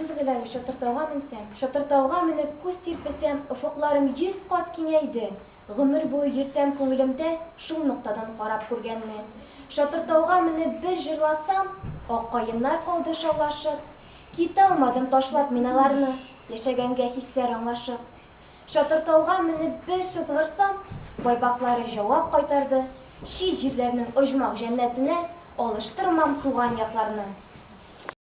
Дус Гыйләве, Чатыртауга менсәм, Чатыртауга менеп күз сирпесәм, офыкларым йөз кат киңәйде. Гомер буе йөртәм күңелемдә Шул ноктадан карап күргәнне. Чатыртауга менеп бер җырласам, Ак каеннар калды шаулашып. Киталмадым ташлап мин аларны, Яшәгәнгә хисләр аңлашып. Чатыртауга менеп бер сызгырсам, Байбаклары җавап кайтарды, Чит җирләрнең оҗмах җәннәтенә Алыштырмам туган якларны.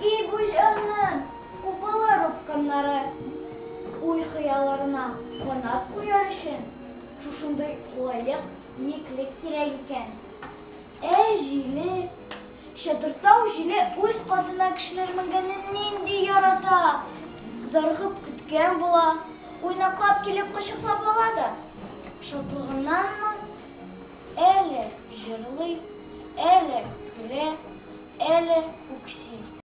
И бу җанның купалар упкыннары! Уй-хыялларына канат куяр өчен шушындый лаек еклек кирәк икән. Ә җиле? Чатыртау җиле үз катына кешеләр менгәнне нинди ярата! Зарыгып көткән була, уйнаклап килеп кочаклап ала да шатлыгыннанмы, Әле җырлый, әле көлә, әле үкси.